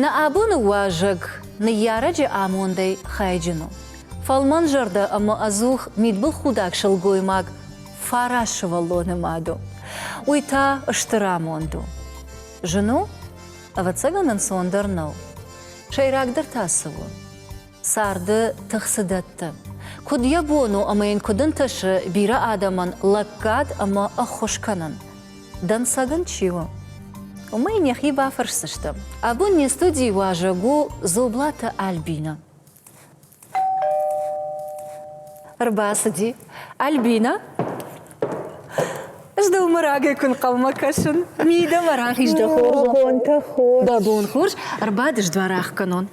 Нӕ абоны уӕзӕг ныййарӕджы амондӕй хайджын у фӕлмӕнзӕрдӕ ӕмӕ ӕдзух мидбылхудӕг сылгоймаг фарас сывӕллоны мад у. Уый та стыр амонд у. Зын у? Ӕвӕццӕгӕн ӕнцондӕр нӕу. Сӕйрагдӕр та цы у? Царды тых цы дӕтты? Куыд йӕ бон у ӕмӕ йын куыд ӕнтысы бирӕ адӕмӕн лӕггад ӕмӕ ӕххуыс кӕнын? Дӕнцӕгӕн чи у? Уымӕй нӕхи бафӕрсдзыстӕм. Абон не студийы уазӕг у Дзоблаты Альбинӕ. Ӕрбацыди. Альбинӕ? Здӕу мӕ рагӕй куы нхъӕлмӕ кӕсын. Мидӕмӕ рахиз дӕ хорз. Дӕ бон хорз. Ӕрбадыс дуар ӕхгӕнон.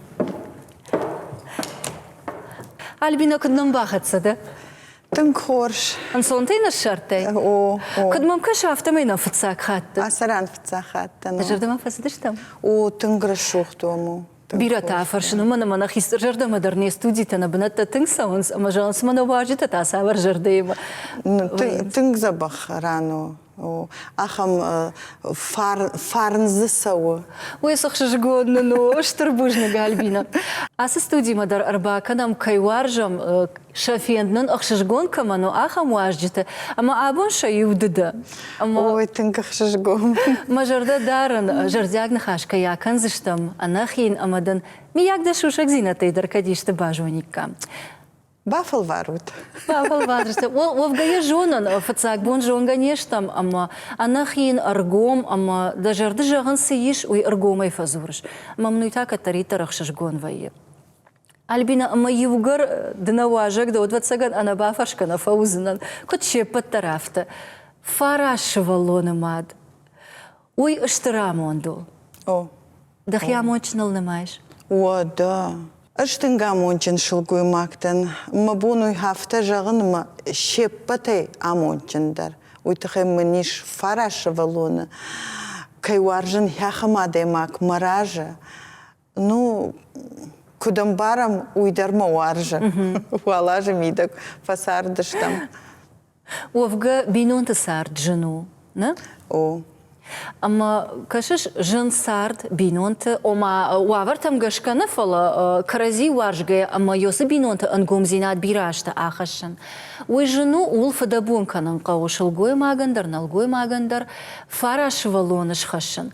Альбинӕ, куыд нӕм бахӕццӕ дӕ? Тынг хорз. Ӕнцонтӕй ныссардтай? О, о. Куыд мӕм кӕсы, афтӕмӕй нӕ фыццаг хатт дӕ. Ацы ран фыццаг хатт дӕн. Зӕрдӕмӕ фӕцыдыстӕм? О, тынг рӕсугъд уӕм у. Бирӕтӕ ӕфӕрсын, уымӕн ӕмӕ нӕ хистӕр зӕрдӕмӕ дӕр не студитӕ, нӕ бынӕттӕ тынг цӕуынц ӕмӕ зӕгъынц ӕмӕ нӕ уазджытӕ та цавӕр зӕрдӕимӕ. Тынг дзӕбӕх ран у. ахӕм фарн дзы цӕуы. Уый сыхсызгон нын у, стыр бузныг, Альбина. Ацы студимӕ дӕр ӕрбакӕнӕм, кӕй уарзӕм, сӕ фенд нын ӕхсызгон кӕмӕн у, ахӕм уазджыты. Ӕмӕ абон сӕ иу ды дӕ. Ой, тынг ӕхсызгон. Мӕ зӕрдӕ дарын, зӕрдиаг ныхас кӕй акӕндзыстӕм ӕнӕхин ӕмӕ дын, миййаг, дӕ сусӕгдзинӕдтӕй дӕр кӕд исты базониккам. Бафӕлварут. Бафӕлварут. Уӕвгӕ йӕ зонын, фыццаг бон зонгӕ не стӕм ӕмӕ ӕнӕхин ӕргом ӕмӕ дӕ зӕрды зӕгъын цы ис, уый ӕргомӕй фӕдзурыс. Мӕм уый та кӕддӕриддӕр ӕхсызгон вӕййы. Альбинӕ, ӕмӕ иугӕр ды нӕ уазӕг дӕ, уӕд ӕвӕццӕгӕн ӕнӕбафӕрсгӕ нӕ фӕуыдзынӕн, куыд се ппӕт дӕр, афтӕ. Фараз сывӕллоны мад. Уый стыр амонд у. О. Дӕхи амондджыныл нымайыс? Уӕдӕ. Ӕз тынг амондджын сылгоймӕгтӕн. Мӕ бон у афтӕ зӕгъын, мӕ се ппӕтӕй амондджындӕр уый тыххӕй мын ис фарасывӕллоны кӕй уарзын, хӕххӕм адӕймаг мӕ разы Ну, куыд ӕмбарӕм, уый дӕр мӕ уарзы. Уал азы мидӕг фӕцардыстӕм. Уӕвгӕ бинонты цард зын у, нӕ? О. Ӕмӕ кӕсыс, зын цард бинонты, ома уавӕртӕм гӕсгӕ нӕ, фӕлӕ кӕрӕдзи уарзгӕ ӕмӕ ёсы бинонты ӕнгомдзинад бирӕ азты ахӕссын. Уый зын у, ууыл фыдӕбон кӕнын хъӕуы сылгоймагӕн дӕр, нӕлгоймагӕн дӕр, фарас сывӕллоны схӕссын.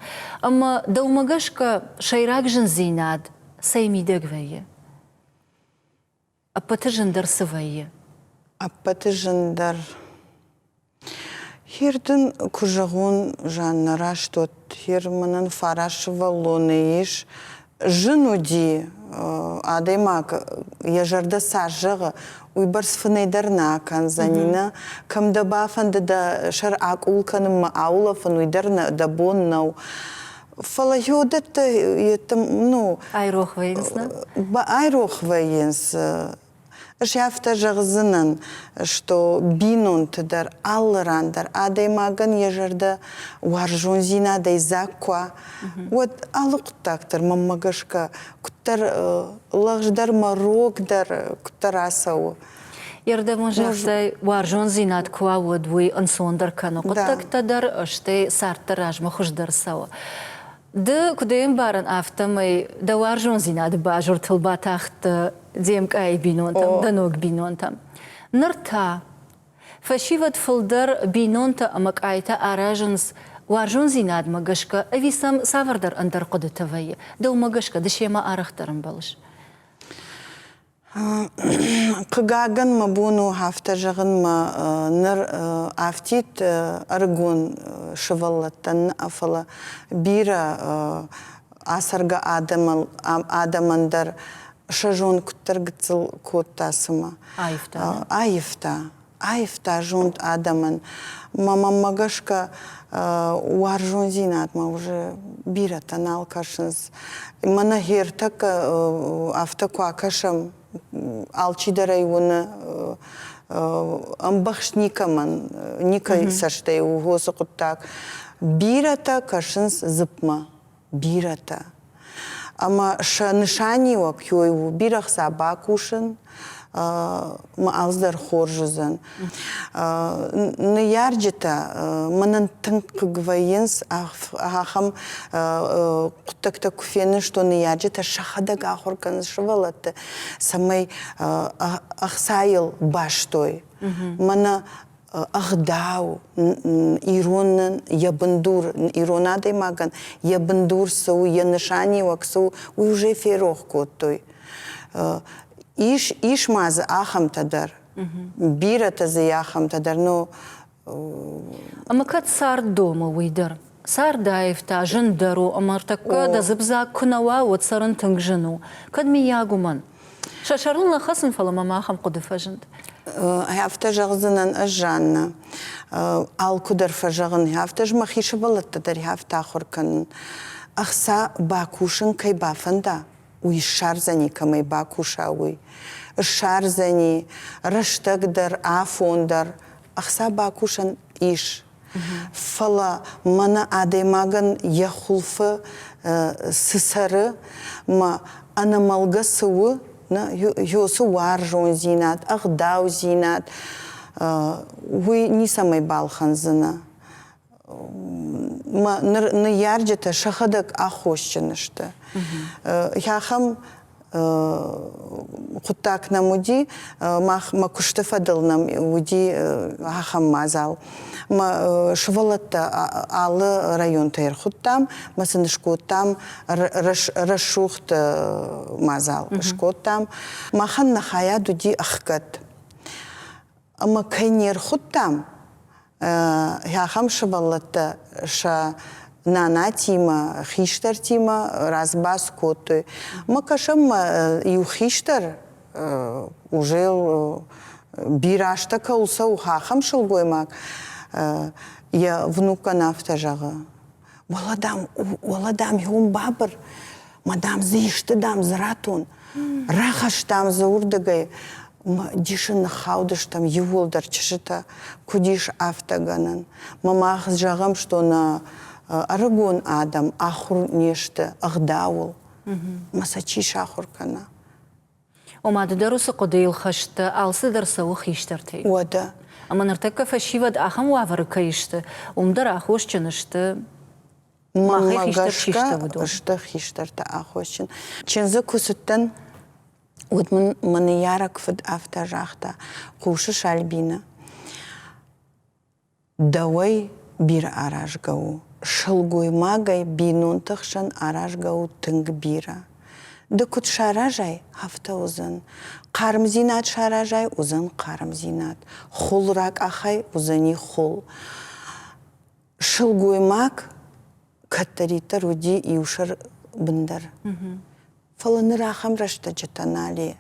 Ӕмӕ, дӕумӕ гӕсгӕ, Сӕйраг зындзинад цӕй мидӕг вӕййы? Ӕппӕты зындӕр цы вӕййы? Ӕппӕты зындӕр. Хир дын куы зӕгъон, Жаннӕ, раст уӕд. Хир мӕнӕн фараз сывӕллонӕй ис. Зын уыди, адӕймаг йӕ зӕрдӕ цас зӕгъы, уыйбӕрц фынӕй дӕр нӕ акӕндзӕни, нӕ? Кӕм дӕ бафӕнды дӕ сӕр акъул кӕнынмӕ аулӕфын, уый дӕр нӕ дӕ бон нӕу. Фӕлӕ уыдӕттӕ ну айрох вӕййынц нӕ айрох вӕййынц ӕз афтӕ зӕгъдзынӕн что бинонты дӕр алы ран дӕр адӕймагӕн йӕ зӕрдӕ уарзондзинадӕй дзаг куы уӕд алы хъуыддаг дӕр мӕнмӕ гӕсгӕ куыддӕр лӕгъз дӕр мӕ рог дӕр куыддӕр ацӕуы Ердевон зӕххӕй уарзондзинад куы уа, уӕд уый ӕнцондӕр кӕны хъуыддӕгтӕ дӕр, стӕй цардты размӕ хуыздӕр цӕуы. Ды куыд ӕмбарын, афтӕмӕй дӕ уарзондзинады базыртыл батахт де мкъайы бинонтӕм, дӕ ног бинонтӕм. Ныр та фӕсивӕд фылдӕр бинонтӕ ӕмӕ къайтӕ аразынц уарзондзинадмӕ гӕсгӕ ӕви сӕм цавӕрдӕр ӕндӕр хъуыдытӕ вӕййы? Дӕумӕ гӕсгӕ ды семӕ арӕхдӕр ӕмбӕлыс? Хъыгагӕн, мӕ бон у афтӕ зӕгъынмӕ ныр афтид ӕрыгон сывӕллӕттӕн нӕ фӕлӕ бирӕ ацӕргӕ адӕмӕн дӕр сӕ зонд куыддӕр гыццыл кодта цымӕ. Аивта. Аивта. аивта зонд адӕмӕн. Мамаммӕ гӕсгӕ уарзондзинадмӕ уже бирӕтӕ нал кӕсынц. Мӕнӕ гъе ӕртӕккӕ афтӕ куы акӕсӕм, алчидӕрӕй уыны ӕмбӕхст никӕмӕн, никӕй цӕстӕй у хосы хъуыддаг. Бирӕтӕ кӕсынц дзыпмӕ. бирӕтӕ. Ӕмӕ сӕ нысаниуӕг кӕй у бирӕ хца бакусын, мӕ алц дӕр хорз уыдзӕн. Ныййарджытӕ мӕнӕн тынг хъыг вӕййынц ахӕм хъуыддӕгтӕ куы фенӕзтой ныййарджытӕ сӕхӕдӕг ахуыр кӕнынц сывӕллӕтты, цӕмӕй ӕхцайыл бастой. Мӕнӕ ӕгъдау, иронӕн йӕ бындур, ирон адӕймагӕн йӕ бындур цы у, йӕ нысаниуӕг цы у, уый уже ферох кодтой. Ис, ис ма дзы ахӕмтӕ дӕр, бирӕтӕ дзы и ахӕмтӕ дӕр, но. Ӕмӕ кӕд цард домы уый дӕр? Цардаив та зындӕр у ӕмӕ ӕртӕккӕ дӕ дзыпдзаг куы нӕ уа, уӕд цӕрын тынг зын у. Кӕд, миййаг, уымӕн. Сӕ сӕрыл нӕ хӕцын, фӕлӕ мӕм ахӕм хъуыды фӕзынд. Афтӕ зӕгъдзынӕн ӕз, Жаннӕ. Алкуыдӕр фӕзӕгъын, афтӕ ӕз мӕхи сывӕллӕтты дӕр афтӕ ахуыр кӕнын. Ӕхца бакусын кӕй бафӕнда, уый ссардзӕни, кӕмӕй бакуса, уый. Ссардзӕни, рӕстӕг дӕр, афон дӕр. Ӕхца бакусӕн ис, Фӕлӕ мӕнӕ адӕймагӕн йӕ хуылфы цы цӕры, мӕ ӕнӕмӕлгӕ цы у, нӕ ёсы уарзондзинад, ӕгъдаудзинад, уый ницӕмӕй балхӕндзынӕ. Мӕ ныййарджытӕ сӕхӕдӕг аххосджын сты. Ахӕм хъуыддаг нӕм уыди, мах мӕ куысты фӕдыл нӕм уыди ахӕм мадзал. Мӕ сывӕллӕттӕ алы районтӕй ӕрхуыдтам, мӕ сын скодтам рӕсугъд мадзал, скодтам. Махӕн нӕ хайад уыди ӕхгӕд. ӕмӕ кӕй не рхуыдтам, ахӕм сывӕллӕттӕ сӕ нанатимӕ, хистӕртимӕ развӕц кодтой. Мы кӕсӕм мӕ иу хистӕр уже бирӕстӕ кӕуыл цӕуы, ахӕм сылгоймаг. Йӕ внукӕн афтӕ зӕгъы, Уӕлӕ, дам, уӕлӕ, дам, иуын бабыр, ма, дам, дзы исты, дам, дзы ратон. Рахастам дзы уырдыгӕй, дисы ныххаудыстӕм иууылдӕр чызджытӕ, куыд ис афтӕ гӕнӕн. Мах зӕгъӕм, што нӕ ӕрыгон адӕм ахуыр не сты ӕгъдауыл. Мӕ сӕ чи сахуыр кӕна? Ома ды дӕр уыцы хъуыдыйыл хӕст дӕ, алцыдӕр цӕуы хистӕртӕй. Уӕдӕ. Ӕмӕ ныртӕккӕ фӕсивӕд ахӕм уавӕры кӕй сты, уым дӕр аххосджын сты махӕй хистӕр чи сты, уыдон. Сты хистӕртӕ аххосджын. Чындзы куы цыдтӕн, уӕд мын мӕ ныййарӕг фыд афтӕ загъта, хъусы Сальбины. Дӕуӕй бирӕ аразгӕ у, сылгоймагӕй бинонты хсӕн аразгӕ у тынг бирӕ. Ды куыд саразай, афтӕ уыдзӕн. Хъармдзинад саразай, уыдзӕн хъармдзинад. Хул ракъахай, уыдзӕни хул. Сылгоймаг кӕддӕриддӕр уыди иу сӕр бындар. Фӕлӕ ныр ахӕм рӕстӕджытӕ нал и,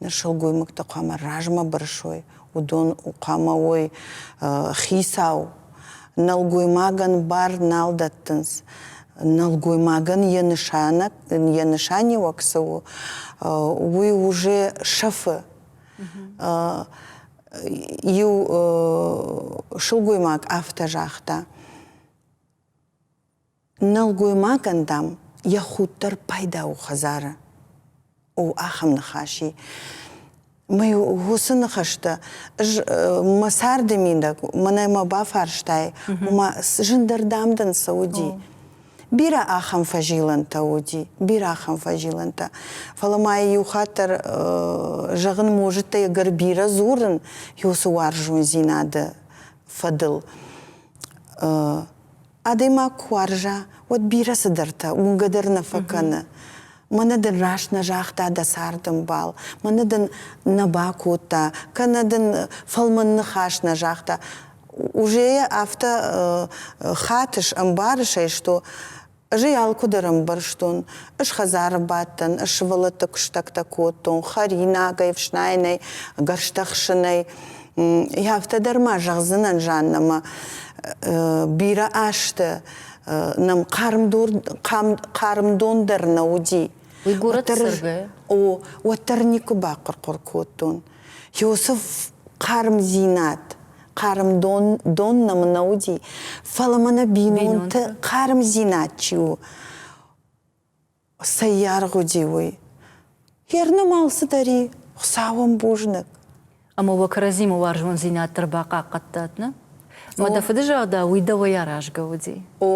ныр сылгоймӕгтӕ хъуамӕ размӕ бырсой, уыдон хъуамӕ уой хицау, нӕлгоймагӕн бар нал дӕттынц. Нӕлгоймагӕн йӕ нысанӕг, йӕ нысаниуӕг цы у, уый уже сӕфы. Иу сылгоймаг афтӕ загъта, Нӕлгоймагӕн, дам, йӕ худ дӕр пайда у хӕдзары. У ахӕм ныхасы. Мӕй уыцы ныхӕстӕ ӕз мӕ царды мидӕг мӕнӕ мӕ бафарстай, ома зындӕр дам дын цы уыди? Бирӕ ахӕм фӕзилӕнтӕ уыди, бирӕ ахӕм фӕзилӕнтӕ. Фӕлӕ ма иу хатт дӕр зӕгъын можыдтӕ ӕгӕр бирӕ дзурын уыцы уарзондзинады фӕдыл. Адӕймаг куы уарза, уӕд бирӕ цыдӕртӕ уынгӕ дӕр нӕ фӕкӕны. Мӕнӕ дын раст нӕ загъта дӕ цардӕмбал, мӕнӕ дын нӕ бакодта, кӕнӕ дын фӕлмӕн ныхас нӕ загъта. Ужейӕ афтӕ хатыс, ӕмбарыс ӕй, сто. Ӕз ӕй алкуыдӕр ӕмбӕрстон. Ӕз хӕдзары бадтӕн, ӕз сывӕллӕтты куыстӕгтӕ кодтон, хӕринагӕй, ӕфснайынӕй, гӕрзтӕ хсынӕй. Афтӕ дӕр ма зӕгъдзынӕн, Жаннӕмӕ, бирӕ азты нӕм хъармдон дӕр нӕ уыди. Уый горӕты цӕргӕ? О, уӕддӕр никуы бахъуыр-хъуыр кодтон. Иосиф хъармдзинад, хъармдон дон нӕм нӕ уыди, фӕлӕ мӕнӕ бинонты хъармдзинад чи у, цӕййаргъ уыди, уый. Гернымал цыдӕр и, Хуыцауӕн бузныг. Ӕмӕ уӕ кӕрӕдзимӕ уарзондзинад дӕр бахъахъхъӕдтат, нӕ? Мӕ дӕ фыдызӕрдӕ уый дӕуӕй аразгӕ уыди. О,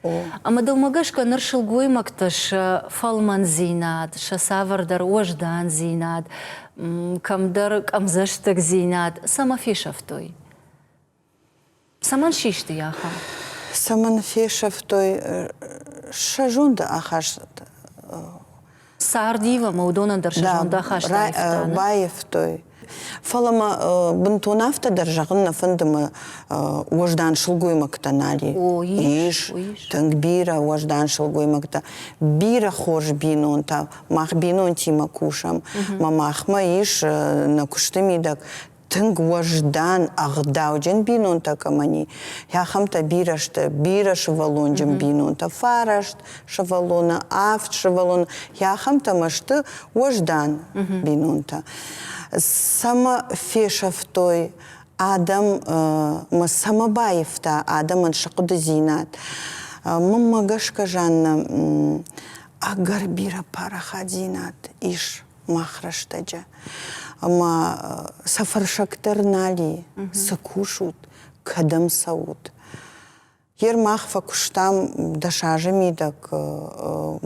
о. Ӕмӕ дӕумӕ гӕсгӕ ныр сылгоймӕгтӕ сӕ фӕлмӕндзинад, сӕ цавӕрдӕр уӕздандзинад, кӕмдӕр къӕмдзӕстыгдзинад цӕмӕ фесӕфтой? Цӕмӕн систы йӕ ахад? Цӕмӕн фесӕфтой сӕ зонды ахаст? Сардив ӕмӕ уыдонӕн дӕр сӕ зонд ахаст Баивтой. Фӕлӕ мӕ бынтон афтӕ дӕр зӕгъын нӕ фӕнды мӕ уӕздан сылгоймӕгтӕ нади. Ис тынг бирӕ уӕздан сылгоймӕгтӕ. Бирӕ хорз бинонтӕ. Мах бинонтимӕ кусӕм. Мӕ махмӕ ис нӕ куысты мидӕг тынг уӕздан, ӕгъдауджын бинонтӕ кӕмӕн и, ахӕмтӕ бирӕ сты, бирӕ сывӕллонджын бинонтӕ, фараст сывӕллоны, авд сывӕллоны, ахӕмтӕмӕ сты уӕздан бинонтӕ. Цӕмӕ фесӕфтой адӕммӕ, цӕмӕ баивта адӕмӕн сыхъуыдыдзинад? Мӕнмӕ гӕсгӕ, Жаннӕ, ӕгӕр бирӕ парахатдзинад ис мах рӕстӕджы. Ӕмӕ сӕ фӕрсӕг дӕр нал и, цы кусут, кӕдӕм цӕут. Гер мах фӕкуыстам дӕс азы мидӕг,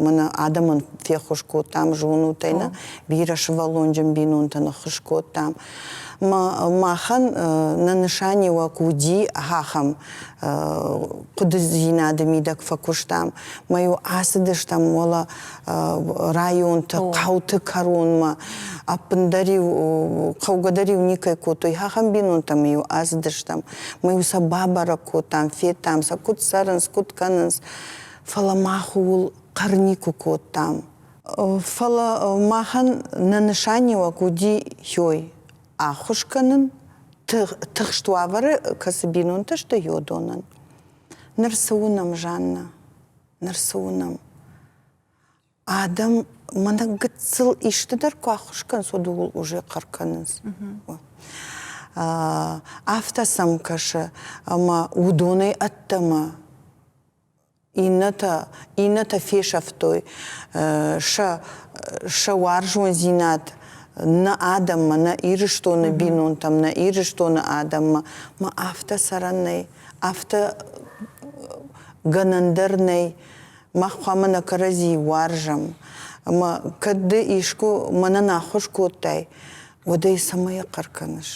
мӕнӕ адӕмӕн феххуыс кодтам зонутӕй нӕ, бирӕ сывӕллонджын бинонтӕн ӕххуыс кодтам, махӕн нӕ нысаниуӕг уыди ахӕм хъуыдыдзинады мидӕг фӕкуыстам. Мӕ-иу ацыдыстӕм уӕлӕ районты, хъӕуты кӕронмӕ. Ӕппындӕр-иу хъӕугӕдӕр-иу никӕй кодтой. Ахӕм бинонтӕм-иу ацыдыстӕм. Мӕ-иу сӕ бабӕрӕг кодтам, федтам, сӕ куыд цӕрынц, куыд кӕнынц. Фӕлӕ мах ууыл хъӕр никуы кодтам. Фӕлӕ махӕн нӕ нысаниуӕг уыди хёй ӕххуыс кӕнын тыхст уавӕры, кӕцы бинонтӕ сты ёдонӕн. Ныр цы уынӕм, Жанна, ныр цы уынӕм? Адӕм мӕнӕ гыццыл исты дӕр куы ӕххуыс кӕнынц, уӕд ууыл уже хъӕр кӕнынц. Афтӕ сӕм кӕсы, ӕмӕ уыдонӕй ӕддӕмӕ иннӕтӕ, иннӕтӕ фесӕфтой сӕ, сӕ уарзондзинад нӕ адӕммӕ, нӕ Ирыстоны бинонтӕм, нӕ Ирыстоны адӕммӕ. Ма афтӕ сӕрӕн нӕй, афтӕ гӕнӕн дӕр нӕй, мах хъуамӕ нӕ кӕрӕдзийы уарзӕм. Ӕмӕ кӕд ды искуы мӕнӕн аххуыс кодтай, уӕд ӕй цӕмӕй хъӕр кӕныс?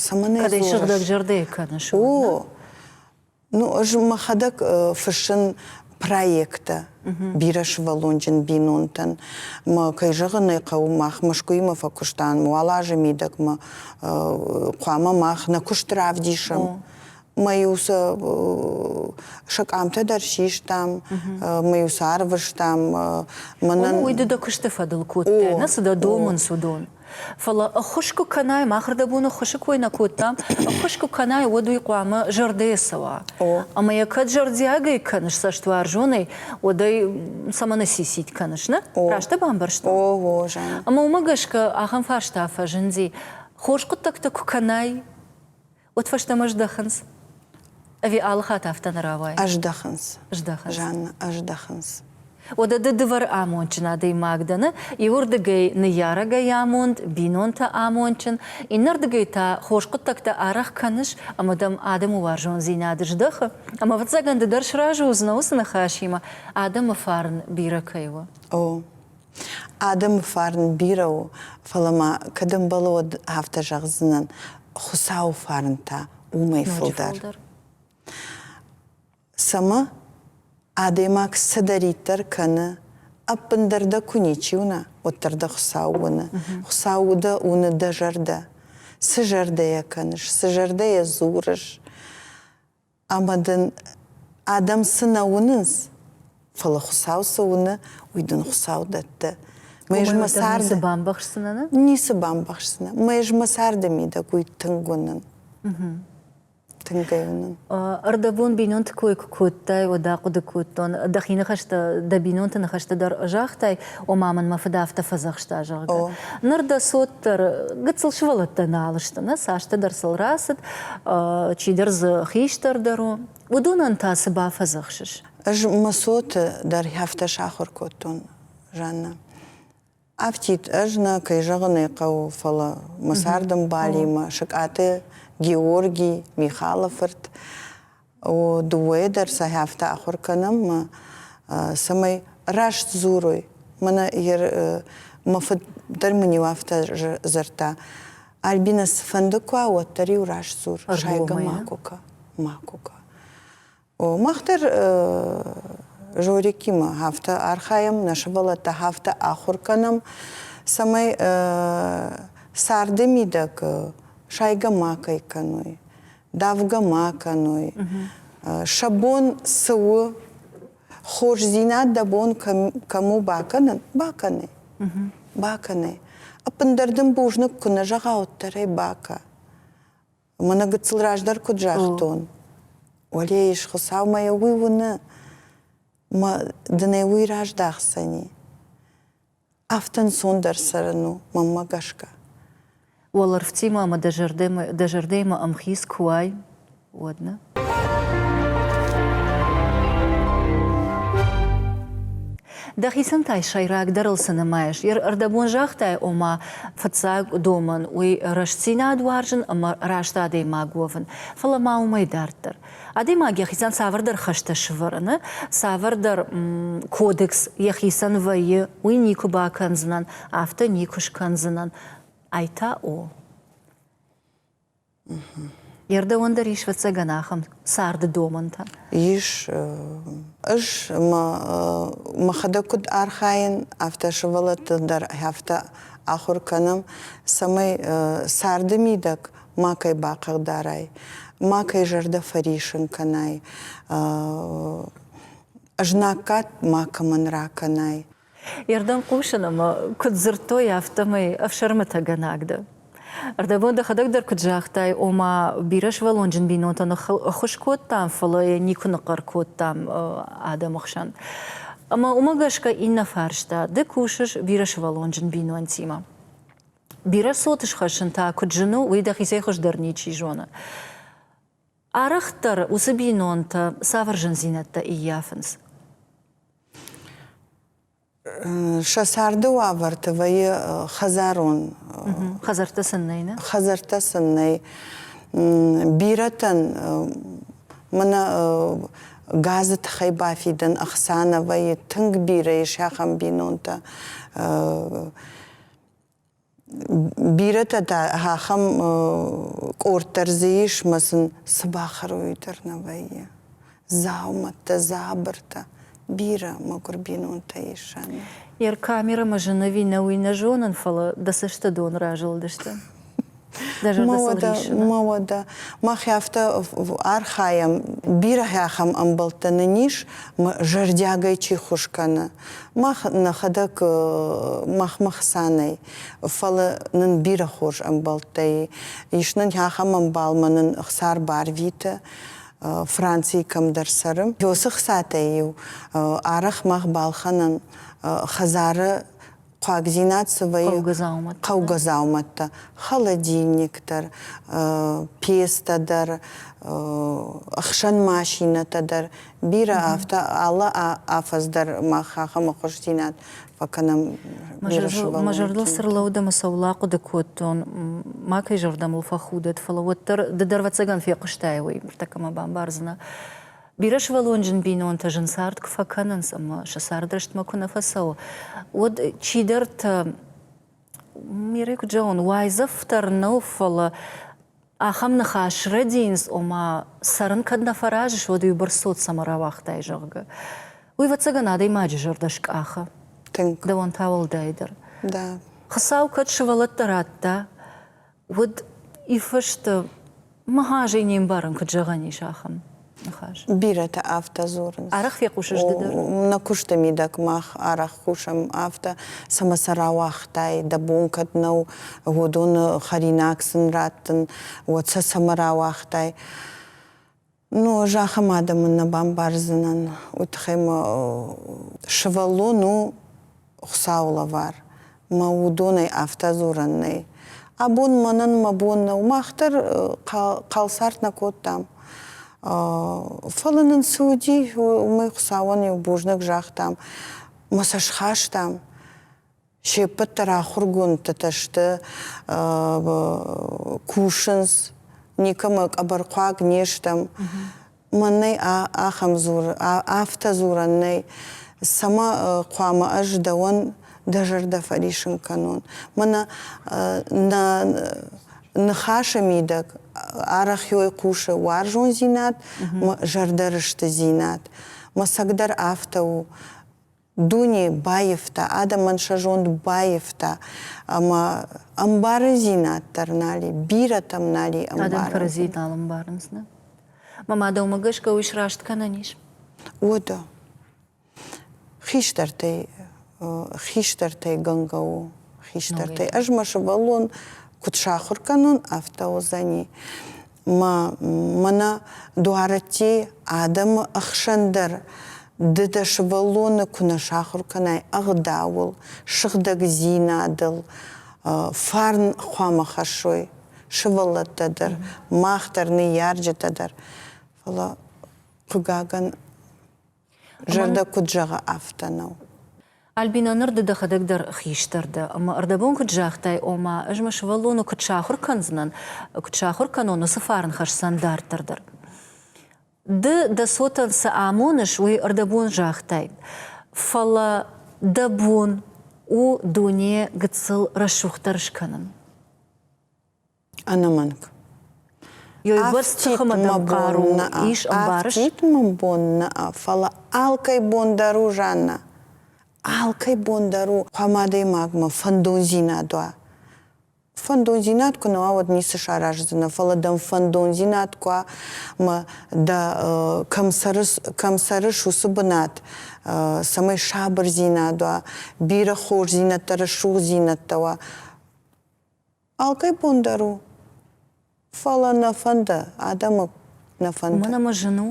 Цӕмӕн ӕй дзурыс? Кӕд ӕй сыгъдӕгзӕрдӕйӕ кӕныс? О, Ну, ӕз мӕхӕдӕг фыссын проекттӕ бирӕсывӕллонджын бинонтӕн. Мӕ, кӕй зӕгъын ӕй хъӕуы, мах Мӕскуыимӕ фӕкуыстам, уал азы мидӕгмӕ хъуамӕ мах нӕ куыст равдисӕм. Мӕ-иу сӕ сӕ къамтӕ дӕр систам, мӕ-иу сӕ арвыстам. Мӕнӕн уый ды дӕ куысты фӕдыл кодтай, нӕ цы дӕ домынц, уыдон. Фӕлӕ ӕххуыс куы кӕнай, махырдӕбон ӕххуысы кой нӕ кодтам, ӕххуыс куы кӕнай, уӕд уый хъуамӕ зӕрдӕйӕ цӕуа. Ӕмӕ йӕ кӕд зӕрдиагӕй кӕныс цӕстуарзонӕй, уӕд ӕй цӕмӕн ссисить кӕныс, нӕ? Раст дӕ бамбӕрстон? О, о, Жаннӕ. Ӕмӕ уымӕ гӕсгӕ ахӕм фарста фӕзынди, хорз хъуыддӕгтӕ куы кӕнай, Уӕд фӕстӕмӕ здӕхынц. Ӕви алыхатт афтӕ нӕ рауайы? Ӕздӕхынц. Здӕхынц. Жанна, ӕздӕхынц. Уӕдӕ ды дывӕр амондджын адӕймаг дӕны, иуырдыгӕй ныййарӕгӕй амонд, бинонтӕ амондджын, иннӕрдыгӕй та хорз хъуыддӕгтӕ арӕх кӕныс ӕмӕ дӕм адӕмы уарзондзинад здӕхы, ӕмӕ ӕвӕццӕгӕн ды дӕр сразы уыдзынӕ уыцы ныхасимӕ, адӕмы фарн бирӕ кӕй у. О, Адӕмы фарн бирӕ у, фӕлӕ ма, кӕд ӕмбӕлы, уӕд афтӕ зӕгъдзынӕн, Хуыцауы фарн та уымӕй фылдӕр. Цӕмӕ? Адӕймаг цыдӕриддӕр кӕны, ӕппындӕр дӕ куы ничи уына, уӕддӕр дӕ Хуыцау уыны. Хуыцау у дӕ, уыны дӕ зӕрдӕ. Цы зӕрдӕйӕ кӕныс, цы зӕрдӕйӕ дзурыс, ӕмӕ дын адӕм цы нӕ уынынц, фӕлӕ Хуыцау цы уыны, уый дын Хуыцау дӕтты. Мӕ царды бамбӕхсдзынӕ? Ницы бамбӕхсдзынӕ. Мӕ царды мидӕг уый тынг уынын. Тынгӕй уынын. Ӕрдӕбон бинонты кой куы кодтай, уӕд ахъуыды кодтон, дӕхи ныхӕстӕ дӕ бинонты ныхӕсты дӕр загътай, ома мын мӕ фыд афтӕ фӕдзӕхста, зӕгъгӕ. Ныр дӕ цот дӕр гыццыл сывӕллӕттӕ нал сты, нӕ цасдӕр сыл рацыд, чидӕр дзы хистӕр дӕр у. Уыдонӕн та цы бафӕдзӕхсыс? Ӕз Мысоты дӕр афтӕ сахуыр кодтон, Жаннӕ. Афтид ӕз нӕ кӕй зӕгъын ӕй хъӕуы, фӕлӕ мӕ цардӕмбалимӕ, Сыкъаты Георги, Михалы фырт, дыууӕйӕ дӕр сӕ хӕфтӕ ахуыр кӕнӕм, цӕмӕй раст дзурой. Мӕнӕ мӕ фыд дӕр мын-иу афтӕ дзырдта. Альбинӕ, цыфӕнды куы уа, уӕддӕр-иу раст дзур, сайгӕ ма куы кӕ, ма куы кӕ. Мах дӕр Жорикимӕ афтӕ архайӕм, нӕ сывӕллӕттӕ афтӕ ахуыр кӕнӕм, цӕмӕй царды мидӕг сайгӕ ма кӕй кӕной. давгӕ ма кӕной. Сӕ бон цы у, хорздзинад дӕ бон кӕм у бакӕнын? Бакӕны. Бакӕны. Ӕппындӕр дын бузныг куы нӕ зӕгъауддӕрӕй бакӕ. Мӕнӕ гыццыл раздӕр куыд загътон. Уӕлейы Хуыцаумӕ йӕ уый уыны, мӕ дын ӕй уый раздахдзӕни. афтӕ ӕнцондӕр цӕрын у, мӕнмӕ гӕсгӕ. Уӕлӕрвтимӕ ӕмӕ дӕ зӕрдӕмӕ, дӕ зӕрдӕмӕ ӕмхиц куы уай, уӕд нӕ? Дӕхицӕн та сӕйрагдӕрыл цы нымайыс? Ӕрдӕбон загътай, ома, фыццаг домӕн уый рӕстдзинад уарзын ӕмӕ раст адӕймаг уӕвын, фӕлӕ ма уымӕй дарддӕр. Адӕймаг йӕхицӕн цавӕрдӕр хӕстӕ сӕвӕрыны, цавӕрдӕр кодекс йӕхицӕн вӕййы, уый никуы бакӕндзынӕн, афтӕ никуы скӕндзынӕн. Ай та у. Йе рдӕуӕн дӕр ис ӕвӕццӕгӕн ахӕм царды домӕнтӕ. Ис. Ӕз мӕхӕдӕг куыд архайын, афтӕ сывӕллӕтты дӕр афтӕ ахуыр кӕнӕм, цӕмӕй царды мидӕг макӕй бахъыгдарай, макӕй зӕрдӕ фӕрисын кӕнай, знаггад макӕмӕн ракӕнай. Ирдӕн хъусын ӕмӕ куыд дзырдтой, афтӕмӕй ӕфсӕрмытӕгӕнӕг дӕ. Ӕрдӕбон дӕхӕдӕг дӕр куыд загътай, ома бирӕ сывӕллонджын бинонтӕ ныххуыс кодтам, фӕлӕ йӕ никуы ныхъхъӕр кодтам адӕмы хсӕн. Ӕмӕ уымӕ гӕсгӕ иннӕ фарста, ды кусыс бирӕ сывӕллонджын бинонтимӕ. Бирӕ цоты схӕссын та куыд зын у, уый дӕхицӕй хуыздӕр ничи зоны. Арӕхдӕр уыцы бинонтӕ цавӕр зындзинӕдтӕ ӕййафынц? сӕ царды уавӕрты вӕййы хӕдзарон хӕдзӕрттӕ сын нӕй нӕ хӕдзӕрттӕ сын нӕй бирӕтӕн мӕнӕ газы тыххӕй бафидӕн ӕхца нӕ вӕййы тынг бирӕ ис ахӕм бинонтӕ Бирӕтӕ та ахӕм къорд дӕр дзы ис, ӕмӕ сын цы бахӕрой дӕр нӕ вӕййы. Дзаумӕттӕ, дзабыртӕ. Бирӕ мӕгуыр бинонтӕ ис ӕмӕ. Йӕ камерӕмӕ зын ӕви нӕ, уый нӕ зонын, фӕлӕ дӕ цӕсты дон разылдысты. Ма уӕдӕ, ма уӕдӕ, мах афтӕ архайӕм, бирӕ ахӕм ӕмбӕлттӕ нын ис, зӕрдиагӕй чи ххуыс кӕны. Мах нӕхӕдӕг махмӕ хца нӕй, фӕлӕ нын бирӕ хорз ӕмбӕлттӕ ис. Нын ахӕм ӕмбалмӕ нын хсар барвиты, Францийы кӕмдӕр цӕры. Уыцы хцатӕй иу арӕх мах балхӕнӕм хӕдзары хъуагдзинад цы вӕййы хъӕугӕ дзаумӕттӕ, холодильниктӕ, пестӕ дӕр, ӕхсӕн машинӕтӕ дӕр, бирӕ афтӕ алы афӕдз дӕр мах ахӕм ӕххуысдзинад фӕкӕнӕм. Мӕ зӕрдыл цы рлӕуд ӕмӕ сӕ уыл ахъуыды кодтон, макӕй зӕрдӕмыл фӕхудӕд, фӕлӕ уӕддӕр ды дӕр ӕвӕццӕгӕн фехъуыстай, уый ныртӕккӕ мӕ бамбардзынӕ. Бирӕсывӕллонджын бинонтӕ зын цард куы фӕкӕнынц ӕмӕ сӕ цард рӕстмӕ куы нӕ фӕцӕуы, уӕд чидӕртӕ, Мирӕ куыд зӕгъон, уайдзӕф дӕр нӕу, фӕлӕ ахӕм ныхас рӕдийынц, ома, цӕрын кӕд нӕ фӕразыс, уӕд уыйбӕрц цот цӕмӕ рауагътай, зӕгъгӕ. Уый, ӕвӕццӕгӕн, адӕймаджы зӕрдӕ скъахы. Тынг. Дӕуӕн та уӕлдайдӕр. Да. Хуыцау кӕд сывӕллӕттӕ радта, уыд иффысты мыгъазӕй не мбарын, куыд зӕгъӕн ис ахӕм ныхас. Бирӕтӕ афтӕ дзурынц. Арӕх фехъусыс ды дӕр? Нӕ куысты мидӕг мах арӕх кусӕм афтӕ, цӕмӕ сӕ рауагътай, дӕ бон кӕд нӕу уыдоны хӕринаг сын раттын, уӕд сӕ цӕмӕ рауагътай? Ну, ӕз ахӕм адӕмӕн нӕ бамбардзынӕн. Уый тыххӕй мӕ сывӕллон у Хуыцауы лӕвар. Мӕ уыдонӕй афтӕ дзурӕн нӕй. Абон мӕнӕн мӕ бон нӕу, мах дӕр хъалцард нӕ кодтам. Фӕлӕ нын цы уыди, уымӕй Хуыцауӕн иу бузныг загътам, мӕ сӕ схастам. Се ппӕт дӕр ахуыргондтытӕ сты, кусынц, никӕмӕ къӕбӕрхъуаг не стӕм. Мӕн нӕй ахӕм дзуры, афтӕ дзурӕн нӕй. Цӕмӕ хъуамӕ ӕз дӕуӕн дӕ зӕрдӕ фӕрисын кӕнон? Мӕнӕ нӕ ныхасы мидӕг арӕх ёй хъусы уарзондзинад мӕ зӕрдӕрыстыдзинад. Мӕ цӕг дӕр афтӕ у. дуне баивта, адӕмӕн сӕ зонд баивта ӕмӕ ӕмбарындзинад дӕр нали, бирӕтӕм нали ӕмбарын. Адӕм кӕрӕдзийы нал ӕмбарынц, нӕ? Мамӕ дӕумӕ гӕсгӕ уый сраст кӕнӕн ис? Уӕдӕ. Хистӕртӕй хистӕртӕй гӕнгӕ у. Хистӕртӕй. Ӕз мӕ сывӕллон куыд сахуыр кӕнон, афтӕ уыдзӕни. мӕнӕ дуарӕтти адӕмы ӕхсӕн дӕр ды дӕ сывӕллоны куы нӕ сахуыр кӕнай ӕгъдауыл, сыгъдӕгдзинадыл, фарн хъуамӕ хӕссой сывӕллӕттӕ дӕр, мах дӕр, ныййарджытӕ дӕр. Фӕлӕ, хъыгагӕн, Зӕрдӕ куыд зӕгъы, афтӕ нӕу. Альбинӕ, ныр ды дӕхӕдӕг дӕр хистӕр дӕ, ӕмӕ ӕрдӕбон куыд загътай, ома, ӕз мӕ сывӕллоны куыд сахуыр кӕндзынӕн, куыд сахуыр кӕнон уыцы фарн хӕсдзӕн дарддӕр дӕр. Ды дӕ цотӕн цы амоныс, уый ӕрдӕбон загътай, фӕлӕ дӕ бон у дуне гыццыл рӕсугъддӕр скӕнын. ӕнӕмӕнг. Ис ӕмбарыс? мын бон нӕ, фӕлӕ алкӕй бон дӕр у, Жанна. Алкӕй бон дӕр у, хъуамӕ адӕймагмӕ фӕндондзинад уа. Фӕндондзинад куы нӕ уа, уӕд ницы сараздзынӕ, фӕлӕ дӕм фӕндондзинад куы уа, ӕмӕ дӕ кӕм цӕрыс, кӕм цӕрыс, уыцы бынат, цӕмӕй сабырдзинад уа, бирӕ хорздзинӕдтӕ, рӕсугъддзинӕдтӕ уа, Алкӕй бон дӕр у. Фӕлӕ нӕ фӕнды, адӕмы нӕ фӕнды. Уымӕн ӕмӕ зын у?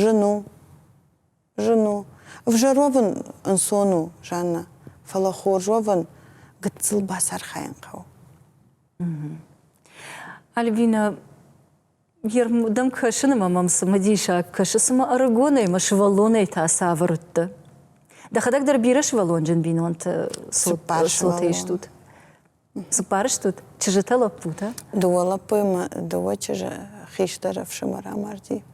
Зын у. Зын у. Ӕвзӕр уӕвын ӕнцон у, Жаннӕ. Фӕлӕ хорз уӕвын гыццыл бацархайын хъӕуы. Альбинӕ, йӕрмдӕм кӕсын ӕмӕ мӕм цымыдисаг кӕсы, цыма ӕрыгонӕй мӕ сывӕллонӕй та цавӕр уыдтӕ? Дӕхӕдӕг дӕр бирӕ сывӕллонджын бинонты цоты ыстут? Цыппар стут? Чызджытӕ, лӕппутӕ? Дыууӕ лӕппуйы мӕ дыууӕ чызджы хистӕр ӕфсымӕр амарди.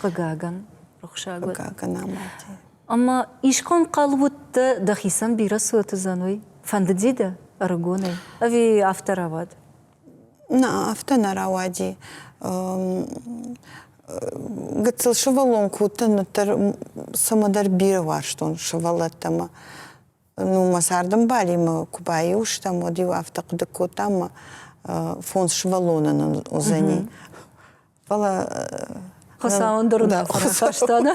Хъыгагӕн, рухсаг уӕд. Хъыгагӕн амарди. Ӕмӕ искӕм хъал уыдтӕ, дӕхицӕн бирӕ цот уыдзӕн, уый? Фӕндыди дӕ? Ӕрыгонӕй? Ӕви афтӕ рауад? Нӕ, афтӕ нӕ рауади. Гыццыл сывӕллон кодтон, уӕддӕр цӕмӕдӕр бирӕ уарзтон сывӕллӕттӕ ӕмӕ Ну, мӕ цардӕмбалимӕ куы баиу стӕм, уӕд-иу афтӕ хъуыды кодтам, мӕ фондз сывӕллонӕн нын уыдзӕни. Фӕлӕ Хуыцау ӕндӕр уынаффӕ рахаста, нӕ?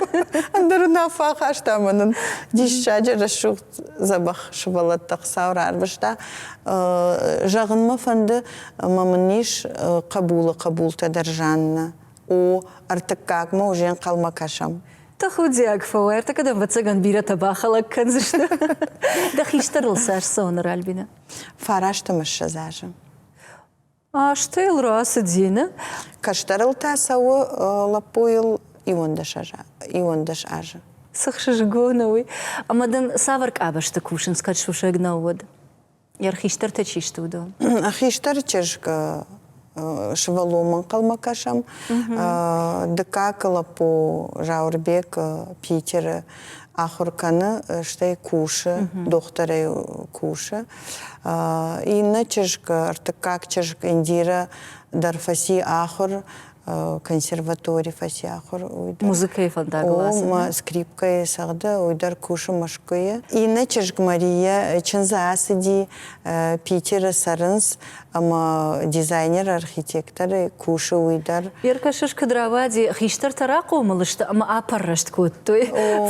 Ӕндӕр уынаффӕ ахаста ӕмӕ нын диссаджы рӕсугъд дзӕбӕх сывӕллӕттӕ Хуыцау рарвыста. Зӕгъын мӕ фӕнды, ӕмӕ мын ис хъӕбулы хъӕбултӕ дӕр Жаннӕ. О, ӕртыккагмӕ уже ӕнхъӕлмӕ кӕсӕм. Тӕхудиаг фӕуай, ӕртӕкӕдӕм вӕццӕгӕн бирӕтӕ бахӕлӕг кӕндзысты. Дӕ хистӕрыл цас цӕуыны Ральбинӕ? Фарасты мыссӕдз азы. Азтӕ йыл рацыди, нӕ? Кӕстӕрыл та цӕуы лӕппуйыл иуӕндӕс азы. Цы хсызгон у уый! Ӕмӕ дын цавӕр къабӕзты кусынц, кӕд сусӕг нӕу, уӕд? Йӕ хистӕртӕ чи сты, уыдон? А хистӕры чызг сывӕллонмӕ ӕнхъӕлмӕ кӕсӕм. Дыккаг лӕппу Заурбек Питеры ахуыр кӕны, стӕй кусы, дохтырӕй кусы. Иннӕ чызг, ӕртыккаг чызг Индирӕ дӕр фӕци ахуыр консерватори фӕсахуыр уый дӕр. Музыкӕйы фӕндагыл скрипкӕйы сӕгъды уый дӕр кусы Мӕскуыйы. Иннӕ чызг Мария чындзы ацыди Питеры цӕрынц ӕмӕ дизайнер-архитекторы кусы уый дӕр. Еркашеш куыд рауади, хистӕртӕ рахъомыл сты ӕмӕ апӕррӕст кодтой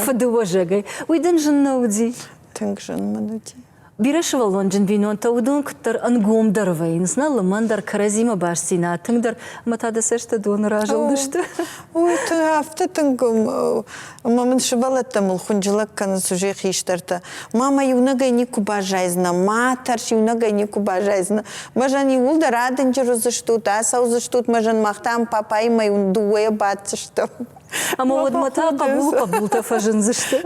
фыды уӕзӕгӕй. Уый дын зын нӕ уыди? Тынг зын мын уыди. Бирӕ сывӕллонджын бинонтӕ уыдон куыддӕр ӕнгомдӕр вӕййынц, нӕ лымӕндӕр кӕрӕдзимӕ бастдзинад тынгдӕр ӕмӕ та дӕ цӕстӕ доны разылдысты. Ой, афтӕ тынг ӕмӕ мын сывӕллӕттӕ мыл хуынджылӕг кӕнынц уызӕй хистӕртӕ. Ма мӕ иунӕгӕй никуы баззайдзынӕ, ма тӕрс, иунӕгӕй никуы баззайдзынӕ. Мӕзӕн иууылдӕр адынджыр уыдзыстут, ацӕудзыстут, мӕзӕн мах та ӕм папаимӕ иу-дыууӕйӕ баддзыстӕм. Ӕмӕ уӕдмӕ та хъӕбулы хъӕбултӕ фӕзындзысты.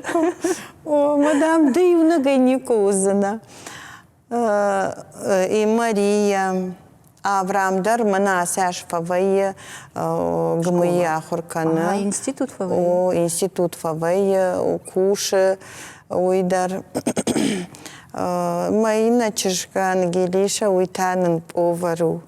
Мадам, да иунӕгӕй никуы уыдзынӕ. И Мария Авраам дӕр мӕнӕ асӕс фӕвӕййы ГМИ ахуыр кӕны. институт фӕвӕййы? О, институт фӕвӕййы, кусы уый дӕр. Мӕ иннӕ чызг Ангелиша, уый та нын повар у.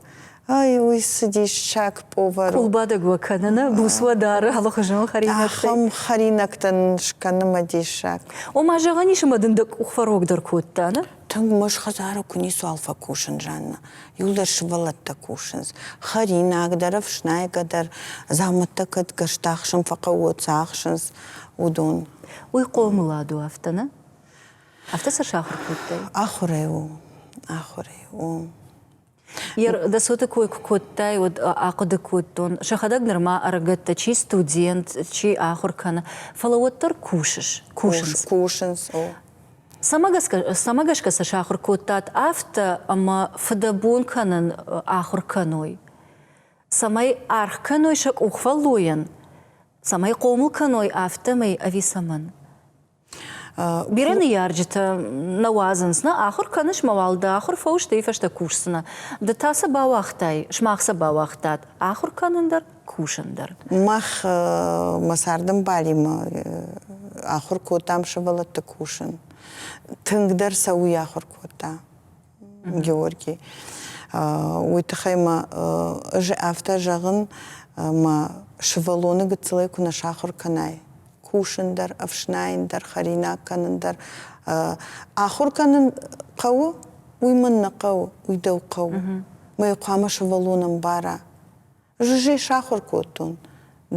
Ай, уый цыдис саг повар. Къулбадӕг уӕ кӕныны буц уӕ дары алыхуызон хӕринӕгтӕй. Ахӕм хӕринӕгтӕ нын скӕны мӕ диссаг. Ома, зӕгъӕн ис, ӕмӕ дын дӕ къух фӕрогдӕр кодта, нӕ? Тынг мӕс хӕдзары куы ницуал фӕкусын, Жаннӕ. Иу дӕр сывӕллӕттӕ кусынц. Хӕринаг дӕр, ӕфснайгӕ дӕр, дзаумӕттӕ кӕд гӕрзтӕ ахсын фӕхъӕуы, цы ахсынц, уыдон. Уый хъомылад у афтӕ, нӕ? Афтӕ сӕ сахуыр кодтай? Ахуырӕй у. Ахуырӕй у. Йер дӕсоты кой куы кодтай, уӕд ахъуыды кодтон, сӕхӕдӕг нырма ӕрыгӕттӕ чи студент, чи ахуыр кӕны, фӕлӕ уӕддӕр кусыс, кусынц. Кусынц. Цӕмӕ гӕсгӕ, цӕмӕ гӕсгӕ сӕ сахуыр кодтат афтӕ, ӕмӕ фыдӕбон кӕнын ахуыр кӕной? Цӕмӕй аргъ кӕной сӕ къухфӕллойӕн? Цӕмӕй хъомыл кӕной афтӕмӕй ӕви цӕмӕн? Бирӕ ныййарджытӕ нӕ уадзынц, нӕ ахуыр кӕныс мӕ уал, дӕ ахуыр фӕу, стӕй фӕстӕ кусдзынӕ. Ды та цы бауагътай? Сымах цы бауагътат? Ахуыр кӕнын дӕр, кусын дӕр. Мах мӕ цардӕмбалимӕ ахуыр кодтам сывӕллӕтты кусын. Тынгдӕр сӕ уый ахуыр кодта. Георгий. Уый тыххӕй мӕ ӕз афтӕ зӕгъын, мӕ сывӕллоны гыццылӕй куы нӕ сахуыр кӕнай, кусын дӕр, ӕфснайын дӕр, хӕринаг кӕнын дӕр. Ахуыр кӕнын хъӕуы, уый мын нӕ хъӕуы, уый дӕу хъӕуы. Мӕ хъуамӕ сывӕллон ӕмбара. Ӕз ӕй сахуыр кодтон.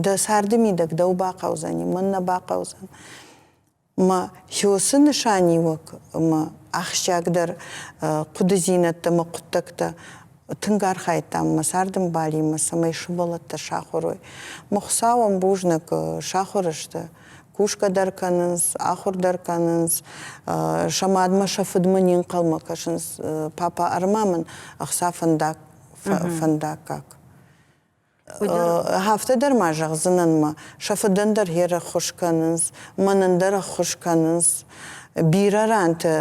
Дӕ царды мидӕг дӕу бахъӕудзӕни, мӕн нӕ бахъӕудзӕн. Мӕ хёсы нысаниуӕг ӕмӕ ахсджиагдӕр хъуыдыдзинӕдтӕ мӕ хъуыддӕгтӕ тынг архайдтам мӕ цардӕмбалимӕ, цӕмӕй сывӕллӕттӕ сахуыр уой. Мӕ хуыцауӕн бузныг, сахуыр сты, кусгӕ дӕр кӕнынц, ахуыр дӕр кӕнынц, сӕ мадмӕ, сӕ фыдмӕ не нхъӕлмӕ кӕсынц. Папа ӕрмӕ мын ӕхца фӕндаг фӕндаггаг. Афтӕ дӕр ма зӕгъдзынӕн мӕ, сӕ фыдӕн дӕр йе рӕххуыс кӕнынц, мӕнӕн дӕр ӕххуыс кӕнынц. Бирӕ ранты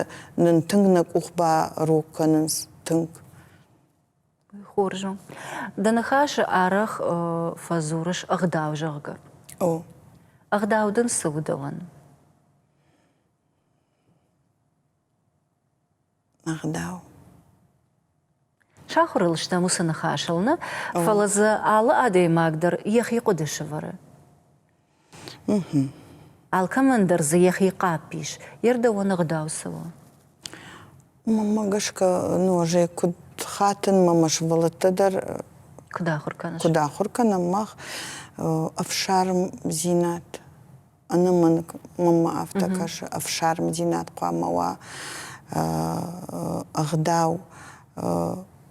нын тынг нӕ къух барог кӕнынц, тынг. Хорз у. Дӕ ныхасы арӕх фӕдзурыс ӕгъдау, зӕгъгӕ. О. Ӕгъдау дын цы у дӕуӕн? ӕгъдау. Сахуыр ыл стӕм уыцы ныхасыл нӕ, фӕлӕ дзы алы адӕймаг дӕр йӕхи хъуыды сӕвӕры. Алкӕмӕн дӕр дзы йӕхи хъӕпп ис, йе рдӕуӕн ӕгъдау цы у? Уымӕ гӕсгӕ нуазӕг куыд хатын мӕ мӕ сывӕллӕттӕ дӕр куыд ахуыр кӕныс? Куыд ахуыр кӕнӕм мах ӕфсармдзинад ӕнӕмӕнг мӕмӕ афтӕ кӕсы ӕфсармдзинад хъуамӕ уа ӕгъдау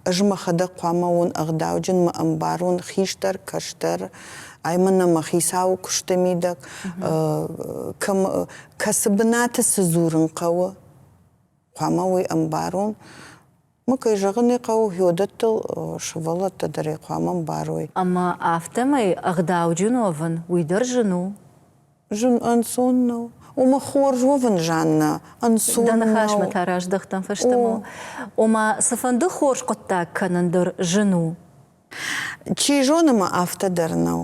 ӕз мӕхӕдӕг хъуамӕ уон ӕгъдауджын мӕ ӕмбарон хистӕр кӕстӕр ай мӕнӕ мӕ хицауы куысты мидӕг кӕцы бынаты цы дзурын хъӕуы хъуамӕ уый ӕмбарон Мы, кӕй зӕгъын ӕй хъӕуы, гьёдӕттыл сывӕллӕттӕ дӕр ӕй хъуамӕ ӕмбарой. Ӕмӕ афтӕмӕй ӕгъдауджын уӕвын, уый дӕр зын у? Зын ӕнцон нӕу. Ома хорз уӕвын зӕн нӕ ӕнцон нӕу. Дӕ ныхасмӕ та раздӕхтӕн фӕстӕмӕ. Ома, цыфӕнды хорз хъуыддаг кӕнын дӕр зын у? Чи зоны мӕ афтӕ дӕр нӕу.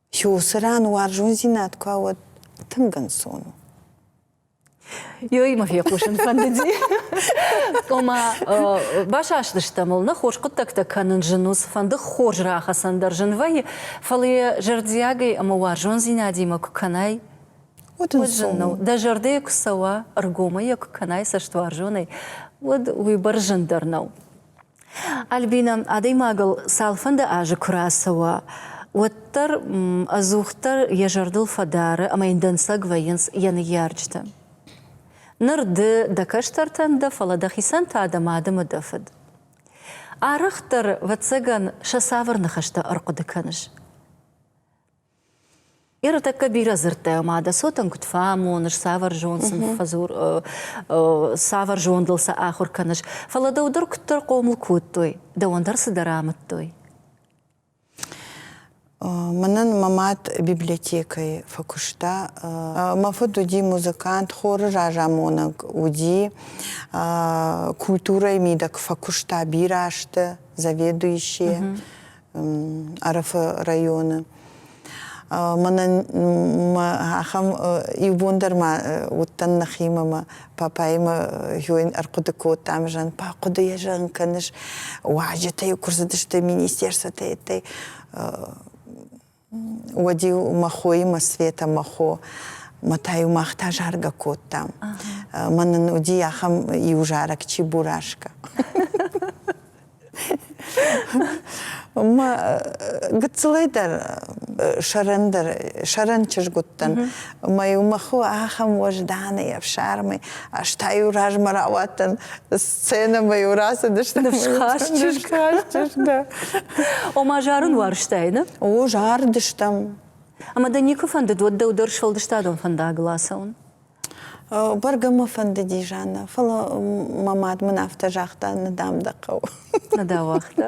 Хиусы ран уарзондзинад куы ауад, тынг ӕнцон у. Ёимӕ фехъусын фӕндыди. Ома, басастысты мыл, нӕ хорз хъуыддӕгтӕ кӕнын зын у, цыфӕнды хорз рахӕцӕн дӕр зын вӕййы, фӕлӕ йӕ зӕрдиагӕй ӕмӕ уарзондзинадимӕ куы кӕнай, уӕд зын нӕу. Дӕ зӕрдӕйӕ куы цӕуа, ӕргомӕй йӕ куы кӕнай цӕстуарзонӕй, уӕд уыйбӕрц зындӕр нӕу. Альбинӕ, адӕймагыл цалфӕнды азы куы рацӕуа, уӕддӕр ӕдзухдӕр йӕ зӕрдыл фӕдары ӕмӕ йын дӕнцӕг вӕййынц йӕ ныййарджытӕ. Ныр ды дӕ кӕстӕртӕн дӕ, фӕлӕ дӕхицӕн та дӕ мадымӕ дӕ фыд. Арӕхдӕр, ӕвӕццӕгӕн, сӕ цавӕр ныхӕстӕ ӕрхъуыды кӕныс? Ӕртӕккӕ бирӕ дзырдтӕ ӕмӕ дӕ цотӕн куыд фӕамоныс, цавӕр зонд сын фӕдзур, цавӕр зондыл сӕ ахуыр кӕныс. Фӕлӕ дӕу дӕр куыддӕр хъомыл кодтой, дӕуӕн дӕр цыдӕр амыдтой. Мӕнӕн мӕ мад библиотекӕйы фӕкуыста. Мӕ фыд уыди музыкант, хоры разамонӕг уыди, культурӕйы мидӕг фӕкуыста бирӕ азты заведующийӕ. Ӕрфы районы. Мӕнӕ ахӕм иу бон дӕр ма уыдтӕн нӕхимӕ, мӕ папӕимӕ хойын ӕрхъуыды кодтам, зӕгъын, папа, хъуыдыйӕ зӕгъын кӕныс, уазджытӕ куы рцыдысты министерствотӕ, Уӕд-иу мӕ хоимӕ Света, мӕ хо, мӕ та-иу мах та заргӕ кодтам. Мӕнӕн уыди ахӕм иу зарӕг чи Бурашка. Мӕ гыццылӕй дӕр сӕрӕндӕр, сӕрӕн чызг уыдтӕн. Мӕ-иу мӕ хо ахӕм уӕзданӕй ӕфсармӕй, ӕз та-иу размӕ рауадтӕн Сценӕмӕ-иу рацыдысты. Ныфсхаст чызг. чызг, да. Ома зарын уарзтай, ne? О, зарыдыстӕм. Ӕмӕ дӕ никуы фӕндыд уӕд дӕу дӕр сфӕлдыстадон фӕндагыл ацӕуын? Бӕргӕ мӕ фӕндыди, Жанна, фӕлӕ мӕ мад мын афтӕ загъта, Нӕ дам дӕ хъӕуы. Нӕ дӕ уагъта?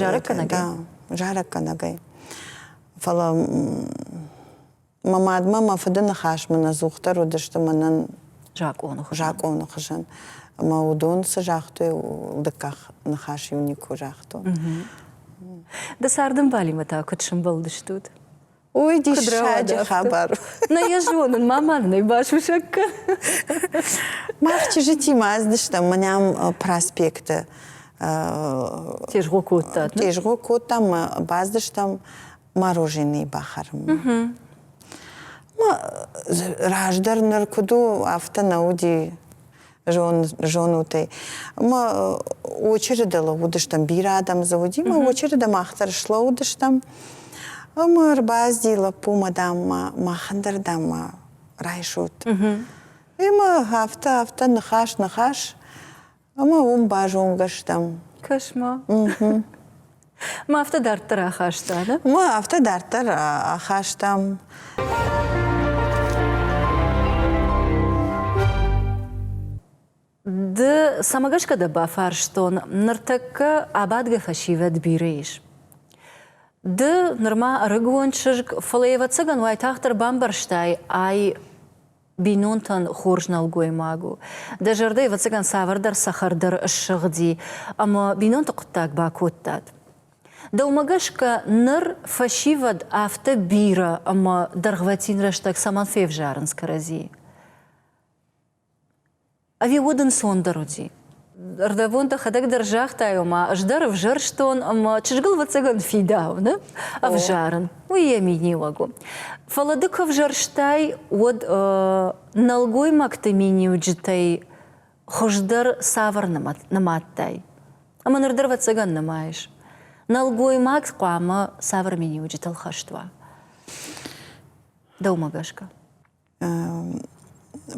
Зарӕггӕнӕгӕй. Зарӕггӕнӕгӕй. Фӕлӕ мӕ мадмӕ мӕ фыды ныхасмӕ ӕдзухдӕр уыдысты мӕнӕн закъоны хуызӕн. Закъоны хуызӕн. Ӕмӕ уыдон цы загътой, дыккаг ныхас-иу никуы загътон. Ды цардӕмбалимӕ та куыд сӕмбӕлдыстут? Ой, диссаджы хабар. Нӕ йӕ зонын, мӕ мад нӕ басусӕггы. Мах чызджытимӕ ӕздыстӕм мӕнӕм проспекты. Тезгъо кодтат? Тезгъо кодтам, баздыстӕм мороженые бахӕрынмӕ. Раздӕр ныр куыд у, афтӕ нӕ уыди. зон, зонут ӕй. Мы очереди лӕууыдыстӕм, бирӕ адӕм дзы уыди, мы очереди махдӕр слӕууыдыстӕм. Мы ӕрбазди лӕппумӕ, даммӕ, махӕн дӕр даммӕ райсут. И мы афтӕ, афтӕ, ныхас, ныхас. Ӕмӕ уым базонгӕ стӕм. Кошмар. Ма афтӕ дарддӕр ахаста, да? Уа, афтӕ дарддӕр ахастам. Ды цӕмӕ гӕсгӕ дӕ бафарстон, ныртӕккӕ абадгӕ фӕсивӕд бирӕ ис? Ды нырма ӕрыгон чызг, фӕлӕ, ӕвӕццӕгӕн, уайтагъддӕр бамбӕрстай, ай бинонтӕн хорз нӕлгоймаг у. Дӕ зӕрдӕ, ӕвӕццӕгӕн, цавӕрдӕр цӕхӕрдӕр ссыгъди ӕмӕ бинонты хъуыддаг бакодтат. Дӕумӕ гӕсгӕ ныр фӕсивӕд афтӕ бирӕ ӕмӕ дӕргъвӕтин рӕстӕг цӕмӕн февзарынц кӕрӕдзийы? Ӕви уӕд ӕнцондӕр уыди? Ӕрдӕбон дӕхӕдӕг дӕр загътай, ома ӕз дӕр ӕвзӕрстон ӕмӕ чызгыл вӕццӕгӕн фидауы, нӕ? Ӕвзарын, уый йӕ миниуӕг у. Фӕлӕ ды куы ӕвзӕрстай, уӕд нӕлгоймӕгты миниуджытӕй хуыздӕр цавӕр нымадтай? Ӕмӕ ныр дӕр вӕццӕгӕн нымайыс. Нӕлгоймаг хъуамӕ цавӕр миниуджытыл хӕст уа? Дӕумӕ гӕсгӕ?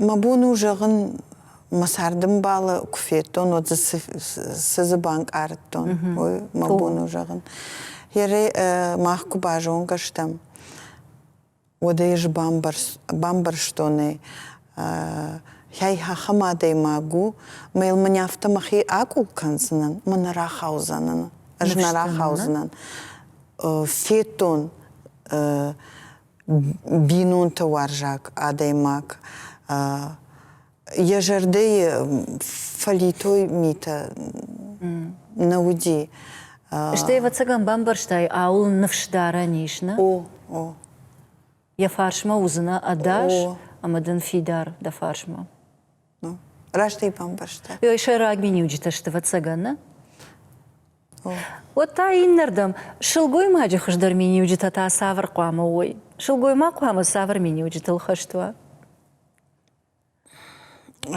Мӕ бон у зӕгъын, мӕ цардымбалы куы федтон, уӕд дзы цы дзы банкъардтон, уый мӕ бон у зӕгъын. Йӕ мах куы базонгӕ стӕм, уӕд ӕй бамбӕрстон ӕй. Хай ахӕм адӕймаг у, мӕ йыл мын афтӕ мӕхи акъул кӕндзынӕн, мӕ нӕ рахаудзӕнӕн, ӕз нӕ рахаудзынӕн. Федтон бинонты уарзаг адӕймаг йӕ зӕрдӕйы фӕлитой митӕ нӕ уыди. Стӕй, ӕвӕццӕгӕн, бамбӕрстай, ауыл ныфс дарӕн ис, нӕ? О, о. Йӕ фарсмӕ уыдзынӕ ӕдас ӕмӕ дын фидар дӕ фарсмӕ. Ну, раст ӕй бамбӕрста. Ой, сӕйраг миниуджытӕ сты, ӕвӕццӕгӕн, нӕ? Уӕд та иннӕрдӕм сылгоймаджы хуыздӕр миниуджытӕ та цавӕр хъуамӕ уой? Сылгоймаг хъуамӕ цавӕр миниуджытыл хӕст уа?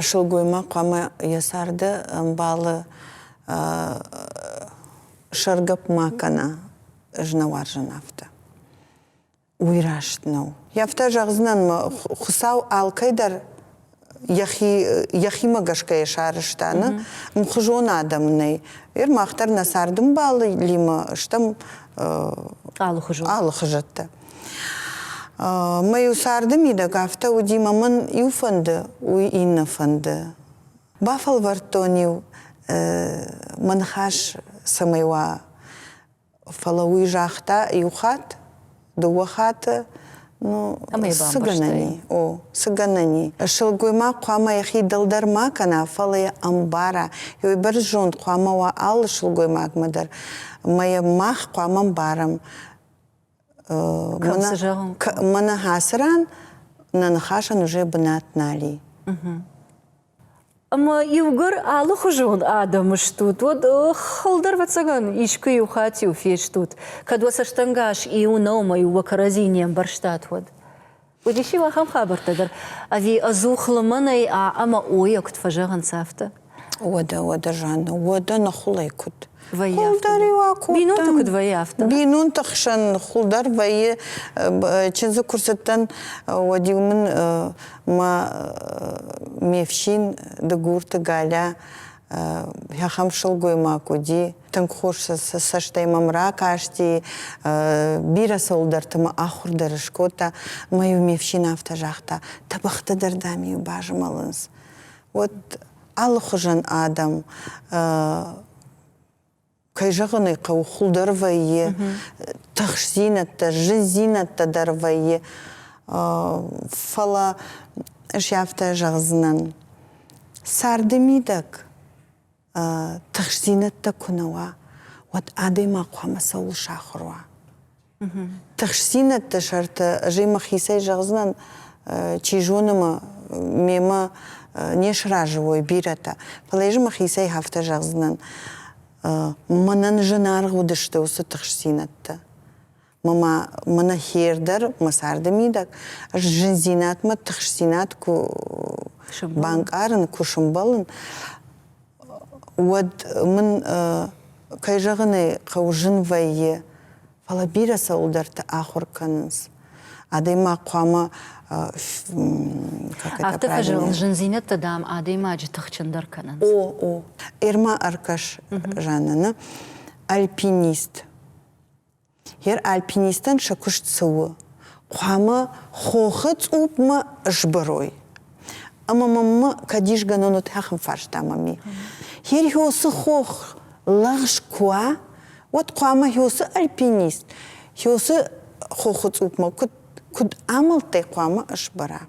Сылгоймаг хъуамӕ йӕ царды ӕмбалы сӕргӕпп ма кӕна знауарзон афтӕ. уый раст нӕу. Афтӕ зӕгъдзынӕн мӕ Хуыцау алкӕйдӕр йӕхи йӕхимӕ гӕсгӕйӕ сарӕзта нӕ мхуызон адӕм нӕй. Ир мах дӕр нӕ цардымбалимӕ стӕм алыхуызон алыхуызӕттӕ. Мӕ-иу царды мидӕг афтӕ уыди, мӕ мын иу фӕнды, уый иннӕ фӕнды. Бафӕлвӕрдтон-иу мӕ ныхас цӕмӕй уа Фӕлӕ уый загъта иу хатт, дыууӕ хаты, ну, цы гӕнӕн и? О, цы гӕнӕн и? Сылгоймаг хъуамӕ йӕхи дӕлдӕр ма кӕна, фӕлӕ йӕ ӕмбара. Йӕ бӕрзонд зонд хъуамӕ уа алы сылгоймагмӕ дӕр. Ӕмӕ йӕ мах хъуамӕ мбарӕм. Мӕнӕ Хацырӕн нӕ ныхасӕн уызе бынат нали. Ӕмӕ иугӕр алыхуызон адӕм стут, уӕд хылдӕр вӕццӕгӕн искуы иу хатт-иу фестут, кӕд уӕ цӕстӕнгас иу нӕумӕ иу уӕ кӕрӕдзи не мбӕрстат, уӕд. Уыдис иу ахӕм хабӕрттӕ дӕр, ӕви ӕдзух лымӕнӕй а ӕмӕ о-йӕ куыд фӕзӕгъынц, афтӕ. Уӕдӕ, уӕдӕ, Жанна, уӕдӕ ныхуылӕй куыд? Вӕййы Хъулдӕр-иу акодтам. Бинонты куыд вӕййы, афтӕ? Бинонты хсӕн ныхуылдӕр вӕййы. Чындзы куы рцыдтӕн, уӕд-иу мын мӕ ме фсин Дыгурты Галя ахӕм сылгоймаг уыди, Тынг хорз сӕ цӕстӕй мӕм ракасти, бирӕ цӕуылдӕрты мӕ ахуыр дӕр скодта. Мӕ-иу ме фсин афтӕ загъта, тӕбӕгъты дӕр дӕм-иу базмӕлынц. Уӕд алыхуызӕн адӕм кӕй зӕгъын ӕй хъӕуы, хуылдӕр вӕййы, тыхсдзинӕдтӕ, зындзинӕдтӕ дӕр вӕййы. Фӕлӕ ӕз афтӕ зӕгъдзынӕн, царды мидӕг тыхстдзинӕдтӕ куы нӕ уа, уӕд адӕймаг хъуамӕ цӕуыл сахуыр уа. Тыхстдзинӕдты сӕрты ӕз ӕмӕ хицӕй зӕгъдзынӕн, чи зоны ма мемӕ не сразы уой бирӕтӕ. Фӕлӕ ӕз ӕмӕ хицӕй афтӕ зӕгъдзынӕн, мӕнӕн зынаргъ уыдысты уыцы тыхстдзинӕдтӕ. Мама мына хер дӕр, мӕ царды мидӕг, ӕз зындзинадмӕ, тыхстдзинад куы банкъарын, куы сымбӕлын, уӕд мын, кӕй зӕгъын ӕй хъӕуы, зын вӕййы, фӕлӕ бирӕ цӕуылдӕрты ахуыр кӕнынц. Адӕймаг хъуамӕ Афтӕ фӕзӕгъын, зындзинӕдтӕ, дам, адӕймаджы тыхджындӕр кӕнынц. О, о. Ӕрма ӕркӕс, Жаннӕ, нӕ альпинист. Гер альпинистӕн сӕ куыст цы у? Хъуамӕ хохы цъупмӕ сбырой. Ӕмӕ мӕм кӕдисгӕнӕн отӕхын фарста мами. Херхёсы хох лӕгъз куы уа, уӕд хъуамӕ Хёсы альпинист Хёсы хохы цъупмӕ куыд куыд амӕлттӕй хъуамӕ сбара?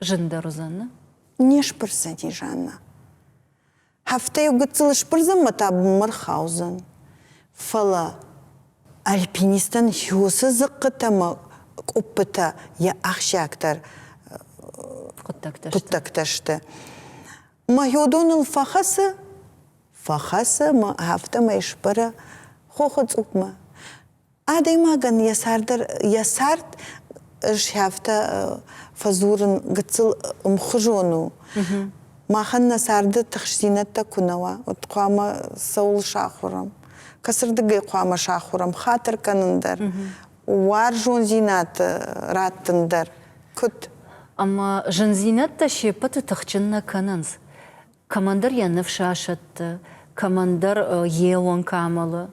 Зындӕр уыдзӕн, не сбырдзӕни, Жанна. Хӕфтӕ гыццыл сбырдзӕнмӕ та бынмӕ рхаудзӕн. Фӕлӕ альпинистӕн хёсы дзыхъхъытӕ ӕмӕ къуыппытӕ йӕ ахсджиагдӕр хъуыддӕгтӕ сты. Мӕйодоныл фӕхӕцы, фӕхӕцы мӕ афтӕмӕй сбӕры хохы цъупмӕ. Адӕймагӕн йӕ цард дӕр йӕ цард сӕфтӕ фӕдзурын гыццыл ӕмхуызон у. Махӕн нӕ царды тыхстдзинӕдтӕ куы нӕ уа, уӕд хъуамӕ цӕуыл сахуырӕм, кӕцырдыгӕй хъуамӕ сахуырӕм хатыр кӕнын дӕр, уарзондзинад раттын дӕр, куыд. Ӕмӕ зындзинӕдтӕ се ппӕты тыхджын нӕ кӕнынц. Кӕмӕндӕр йӕ ныфс асӕтты, кӕмӕндӕр йе уӕнг амӕлы.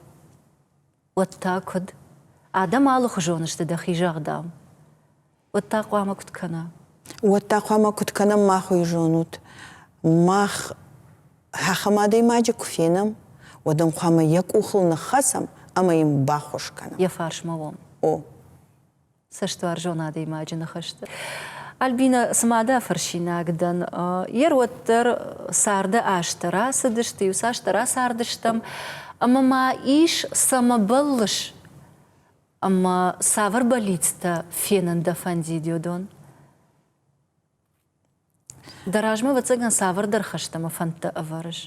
уӕд та куыд? Адӕм алыхуызон сты дӕхи зӕгъдам. Уӕд та хъуамӕ куыд кӕна? Уӕд та хъуамӕ куыд кӕнӕм мах уый зонут? Мах ахӕм адӕймаджы куы фенӕм, уӕд ӕм хъуамӕ йӕ къухыл ныххӕцӕм ӕмӕ йын баххуыс кӕнӕм. Йӕ фарсмӕ уӕм. О. цӕстуарзон адӕймаджы ныхӕсты. Альбинӕ, цыма дӕ фырсинаг дӕн, йе рвӕддӕр царды азтӕ рацыдысты, иу цасдӕр ацардыстӕм, ӕмӕ ма ис цӕмӕ бӕллыс? Ӕмӕ цавӕр бӕллицтӕ фенын дӕ фӕндид уыдон? Дӕ размӕ, ӕвӕццӕгӕн, цавӕрдӕр хӕстӕмӕ фӕндтӕ ӕвӕрыс?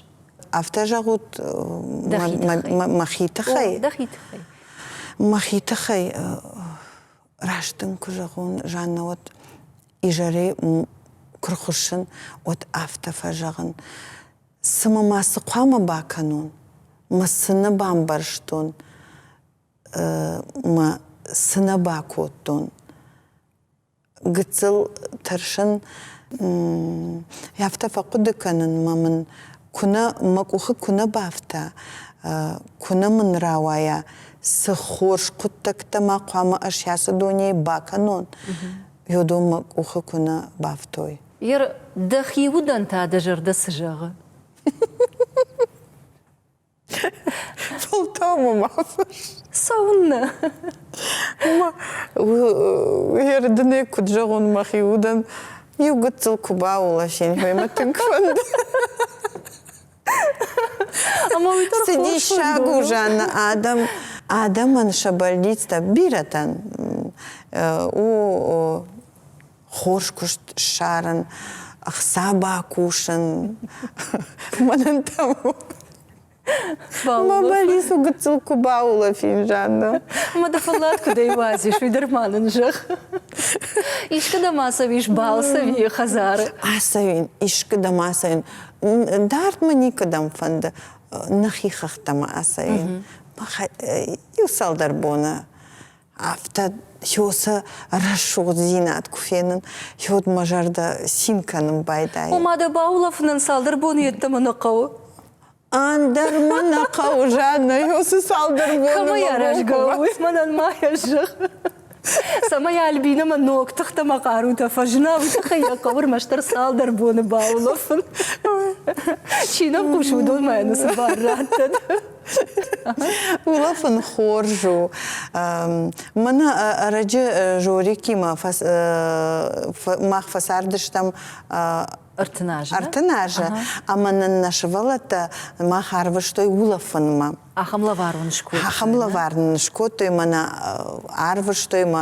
Афтӕ зӕгъут мӕхи тыххӕй? Дӕхи тыххӕй. Мӕхи тыххӕй раст дын куы зӕгъон, Жаннӕ, уӕд изӕрӕй куы рхуыссын, уӕд афтӕ фӕзӕгъын, цымӕ ма цы хъуамӕ бакӕнон? Мӕ цы нӕ бамбӕрстон, мӕ цы нӕ бакодтон? гыццыл тӕрсын, афтӕ фӕхъуыды кӕнынмӕ мын куынӕ мӕ къухы куынӕ бафта, куынӕ мын рауайа, цы хорз хъуыддӕгтӕ ма хъуамӕ ӕз ацы дунейы бакӕнон, йодон мӕ къухы куынӕ бафтой. Ир, дӕхи удӕн та дӕ зӕрдӕ цы зӕгъы? Султан-ы ма фысс. Цӕуыннӕ? Ма Ердынӕг куыд зӕгъон мӕхи удӕн, иу гыццыл куы бауласин, мемӕ тынг фӕнды. Ӕмӕ уый дӕр Цы диссаг у, Жанна, адӕм адӕмӕн сӕ бӕллицтӕ бирӕтӕн у хорз куыст ссарын, ӕхца бакусын, мӕнӕн та Мӕ бӕлис у гыццыл куы баулӕфин жанна. Мӕ дӕ фӕллад куыдӕй уадзис, уый дӕр ма нын зӕгъ. Искуы дӕм ацӕуис балцӕви хӕдзары? Ацӕуин, искуы дӕм ацӕуин. Дард мӕ никӕдӕм фӕнды нӕхи хӕхтӕм ацӕуин. Иу цалдӕр боны Афтӕ Хёсӕ рӕсугъддзинад куы фенын, Хёд мӕ зӕрдӕ цин кӕнын байдайы. Ома дӕ баулӕфынӕн цалдӕр боны йеддӕмӕ нӕ хъӕуы? Ӕндӕр мӕ нӕ хъӕуы, Жаннӕ, Хёсы цалдӕр боны мӕ райгуыры. Мӕнӕн ма йӕ зӕгъ. Цӕмӕй Альбинӕмӕ ног тыхтӕмӕ хъарутӕ фӕзына, уый тыххӕй йӕ хъӕуы рмӕстдӕр цалдӕр боны баулӕфын. Чи нӕм хъус, уыдонмӕ ӕнӕ цы бар раттӕд. Улаф ын хорз у. Мӕнӕ ӕрӕджы Жорикимӕ мах фӕцардыстӕм ӕртыназы. Ӕртыназы ӕмӕ нын нӕ сывӕллӕттӕ мах арвыстой улафынмӕ. Ахӕм лӕвар уын скодтой. Ахӕм лӕвар нын скодтой, мӕнӕ арвыстой мӕ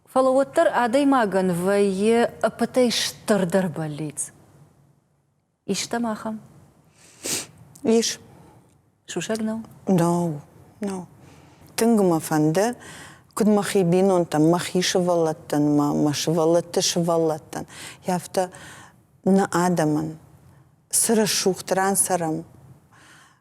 Фӕлӕ уӕддӕр адӕймагӕн вӕййы ӕппӕтӕй стырдӕр бӕллиц. Истӕм ахӕм? Ис. Сусӕг нӕу? Нау, нау. Тынг мӕ фӕнды, куыд мӕхи бинонтӕн, мӕхи сывӕллӕттӕн, мӕ сывӕллӕтты сывӕллӕттӕн, афтӕ нӕ адӕмӕн цы рӕсугъд ран цӕрӕм,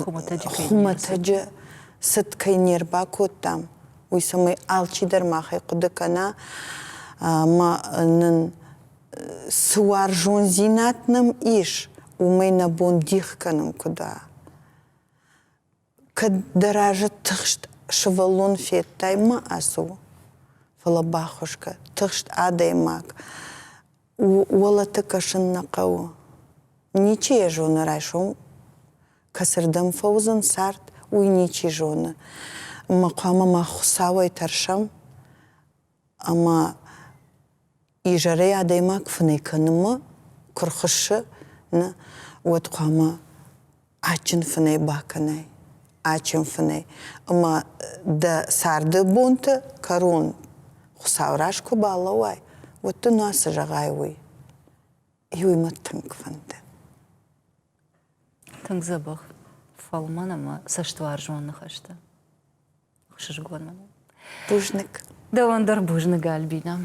Хуымӕтӕджы цыд кӕй не рбакодтам, уый цӕмӕй алчидӕр махӕй хъуыды кӕна, ӕмӕ нын цы уарзондзинад нӕм ис, уымӕй нӕ бон дих кӕнын куыд у. Кӕд дӕ разы тыхст сывӕллон федтай, ма ацу. Фӕлӕ бахуысгӕ, тыхст адӕймаг Уолӕты кӕсын нӕ хъӕуы. Ничи йӕ зоны райсом кӕцырдӕм фӕуыдзӕн цард, уый ничи зоны. Ӕмӕ хъуамӕ мах Хуыцауӕй тӕрсӕм ӕмӕ изӕрӕй адӕймаг фынӕй кӕнынмӕ куы рхуыссы, нӕ, уӕд хъуамӕ адджын фынӕй бакӕнай, адджын фынӕй. Ӕмӕ дӕ царды бонты кӕрон Хуыцауы раз куы балӕууай, уӕд дын ацы зӕгъай уый. Иуимӕ тынг фӕнды. Тынг дзӕбӕх фӕлмӕн ӕмӕ цӕстуарзон ныхӕстӕ. сызгон бузныг дӕуӕн дӕр бузныг альбинӕ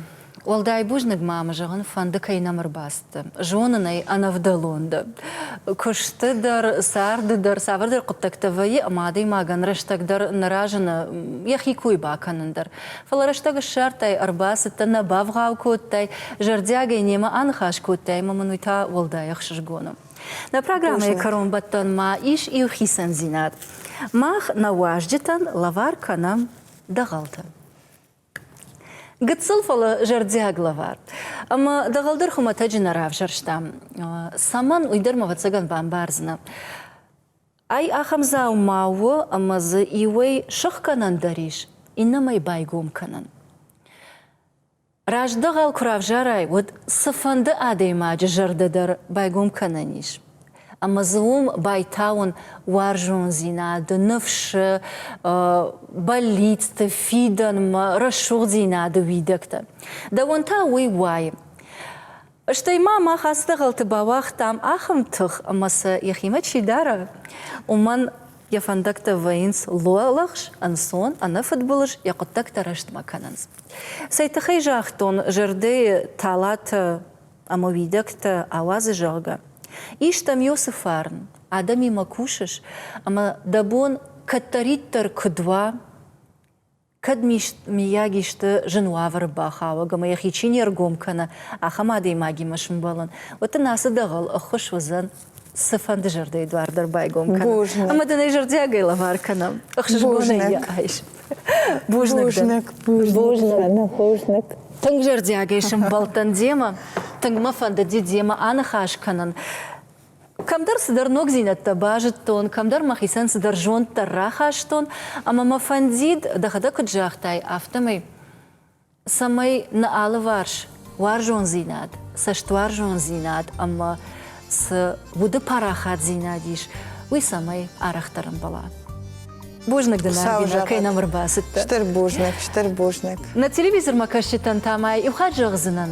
уӕлдай бузныг ма мӕ зӕгъын фӕнды кӕй нӕм ӕрбацыд зонын ӕй ӕнӕвдӕлон дӕ куысты дӕр царды дӕр цавӕрдӕр хъуыддӕгтӕ вӕййы ӕмӕ адӕймагӕн рӕстӕг дӕр нӕ разыны йӕхи кой бакӕнын дӕр фӕлӕ рӕстӕг ссардтай ӕрбацыдтӕ нӕ бавгъау кодтай зӕрдиагӕй немӕ аныхас кодтай ӕмӕ мын уый та уӕлдай ӕхсызгон у Нӕ программӕйы кӕронбӕттӕн ма ис иу хицӕндзинад. Мах нӕ уазджытӕн лӕвар кӕнӕм дӕгъӕлтӕ. Гыццыл, фӕлӕ зӕрдиаг лӕвар. Ӕмӕ дӕгъӕл дӕр хуымӕтӕджы нӕ равзӕрстам. Цӕмӕн, уый дӕр мӕ ӕвӕццӕгӕн бамбардзынӕ. Ай ахӕм дзаума у, ӕмӕ дзы иуӕй сыхгӕнӕн дӕр ис, иннӕмӕй байгом кӕнӕн. Раздӕгъӕл куы равзарай, уӕд цыфӕнды адӕймаджы зӕрдӕ дӕр байгом кӕнӕн ис. Ӕмӕ дзы уым байтауын уарзондзинады, ныфсы, бӕллицты, фидӕнмӕ, рӕсугъддзинады уидӕгтӕ. Дӕуӕн та уый уайы. Стӕй ма мах ацы дӕгъӕлты бауагътам ахӕм тых, ӕмӕ сӕ йӕхимӕ чи дара, уымӕн йӕ фӕндӕгтӕ вӕййынц луӕлӕхс, ӕнцон, ӕнӕфыдбылыз йӕ хъуыддӕгтӕ рӕстмӕ кӕнынц. Цӕй тыххӕй загътон, зӕрдӕйы талатӕ ӕмӕ уидӕгтӕ ауадзы, зӕгъгӕ. Истӕм-иу цы фарн, адӕмимӕ кусыс, ӕмӕ дӕ бон кӕддӕриддӕр куыд уа, кӕд миййаг исты зын уавӕры бахауӕг ӕмӕ йӕхи чи не ргом кӕны, ахӕм адӕймагимӕ сымбӕлын, уӕд дын ацы дӕгъӕл ӕххуыс уыдзӕн цыфӕнды зӕрдӕйы дуар дӕр байгом кӕнын. Ӕмӕ дын ӕй зӕрдиагӕй лӕвар кӕнӕм. Ӕхсызгонӕй йӕ айс. Бузныг. Бузныг. Бузныг. Ну, бузныг. Тынг зӕрдиагӕй сымбӕлдтӕн демӕ. Тынг мӕ фӕндыди демӕ аныхас кӕнын. Кӕмдӕр цыдӕр ногдзинӕдтӕ базыдтон, кӕмдӕр мӕхицӕн цыдӕр зонддӕр рахастон, ӕмӕ мӕ фӕндид, дӕхӕдӕг куыд загътай, афтӕмӕй, цӕмӕй нӕ алыварс уарзондзинад, цӕстуарзондзинад ӕмӕ цы уды парахатдзинад ис, уый цӕмӕй арӕхдӕр ӕмбӕла. Бузныг дын, Альбинӕ, кӕй нӕм ӕрбацыдтӕ. Стыр бузныг, стыр бузныг. Нӕ телевизормӕ кӕсджытӕн та ма иу хатт зӕгъдзынӕн.